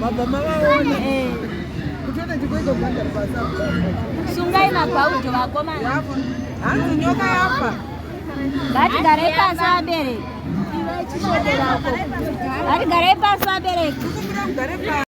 Baba mama sungai mabhaudo vakomana hanzi nyoka yafa ngatigare pasi vabereki ngatigare pasi vabereki